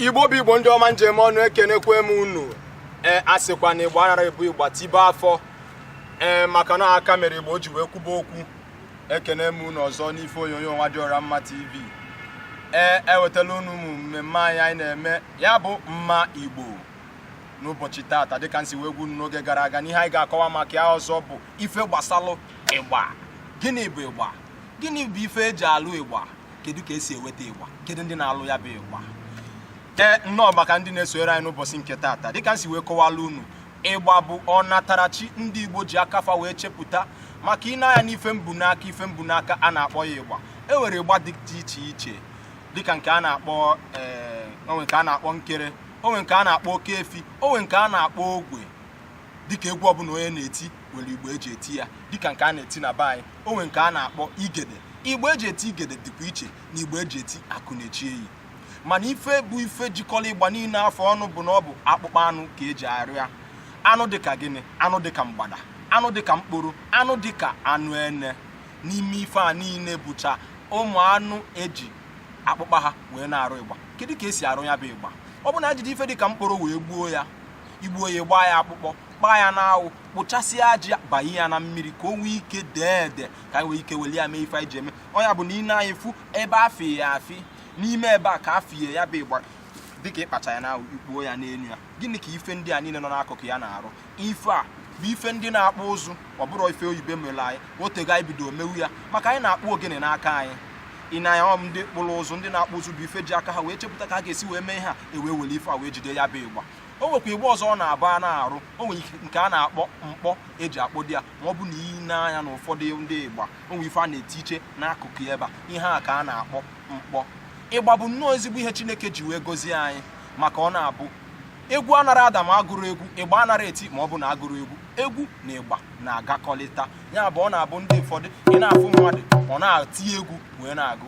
igbo bụ igbo ndị ọma njem ọnụ ekenekwa m unu ee eh, asịkwa na igbo anara ebu ịgba tibe afọ ee eh, maka na aka mere ịgba o ji wee kwuba okwu ekene m unu ọzọ n'ife onyonyo nwa dị ọra mma tv ee ewetala unu ụmụ mmemme anyị anyị na-eme ya bụ mma igbo n'ụbọchị taata dịka m si wee gwa unu n'oge gara aga n'ihe anyị ga-akọwa maka ya ọzọ bụ ife gbasalụ ịgba gịnị bụ ịgba gịnị bụ ife eji alụ ịgba kedu ka esi eweta ịgba kedu ndị na-alụ ya bụ ịgba ee nnọọ maka ndị na-esonyere anyị n'ụbọchị nke taata dịka m si wee kọwala unu ịgba bụ ọnatarachi ndị Igbo ji aka fa wee chepụta maka i nee anya n'ife m bu n'aka ife m bu n'aka a na-akpọ ya ịgba e nwere ịgba dị iche iche dịka nke a na-akpọ eh, o nwe nke a na-akpọ nkere o nwe nke a na-akpọ oke efi o nwe nke a na-akpọ ogwe dịka egwu ọbụla onye na-eti nwere ịgba eji eti ya dịka nke a na-eti na be anyị o nwe nke a na-akpọ igede ịgba eji eti igede dịkwa iche na ịgba eji eti akụ na-eche enyi mana ife bụ ife jikọrọ ịgba niile afụ ọnụ bụ na ọ bụ akpụkpọ anụ ka eji arụ ya anụ dịka gịnị anụ dịka mgbada anụ dịka mkpụrụ anụ dịka anụ ene n'ime ife a niile bụcha ụmụ anụ eji akpụkpọ ha wee na-arụ ịgba kedu ka esi arụ ya bụ ịgba ọ bụ na e jide ife dịka mkpụrụ wee gbuo ya i gbuo ya gbaa ya akpụkpọ kpaa ya n'anwụ kpụchasịa aji banye ya na mmiri ka o nwee ike dee ede ka anyị nwee ike weli ya mee ife anyị ji eme ọ ya bụ na i nee anya ị fụ ebe afie ya afi n'ime ebe a ka afie ya bụ ịgba dịka ịkpacha ya na ikpuo ya n'elu ya gịnị ka ife ndị a niile nọ n'akụkụ ya na-arụ ife a bụ ife ndị na-akpụ ụzụ ọ bụrọ ife oyibo mere anyị otego anyị bido mewe ya maka anyị na-akpụ ogene n'aka anyị ị na ya ndị kpụrụ ụzụ ndị na-akpụ ụzụ bụ ife ji aka ha wee chepụta ka a ga-esi wee mee ha ewee were ife a wee jide ya bụ ịgba o nwekwa ịgba ọzọ ọ na-abụ a na-arụ o nwere nke a na-akpọ mkpọ eji akpọdo ya ma ọ bụ na i nee anya na ụfọdụ ndị ịgba o nwere ife a na-eti iche n'akụkụ ebe a ihe a ka a na-akpọ mkpọ ịgba bụ nnọọ ezigbo ihe chineke ji wee gọzie anyị maka ọ na-abụ egwu anara ada ma agụrọ egwu ịgba anara eti ma ọ bụ na agụrọ egwu egwu na ịgba na-agakọlịta ya bụ ọ na-abụ ndị ụfọdụ ị na-afụ mmadụ ọ na-eti egwu wee na-agụ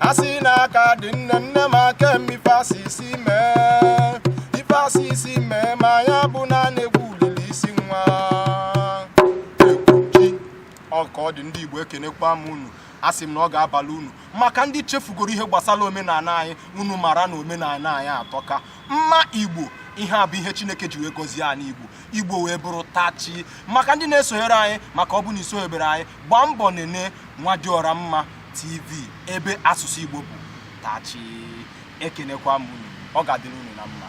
asị na aka dị nne nne m aka m ife asị isi mee ife asị isi mee ma ya bụ na a na-ekwu ulele isi nwa ekwuchi ọ ka ọ dị ndị igbo ekenekwa m unu asị m na ọ ga-abalụ unu maka ndị chefugoro ihe gbasara omenala anyị unu mara na omenala anyị atọka mma igbo ihe a bụ ihe chineke ji wee gọzie anyị igbo igbo wee bụrụ tachi maka ndị na-esonyere anyị maka ọ bụ na i sonyebere anyị gbaa mbọ nene nwa dị ọra mma TV ebe asụsụ Igbo bụ tachi ekenekwa m unu ọ ga-adịrị unu na mma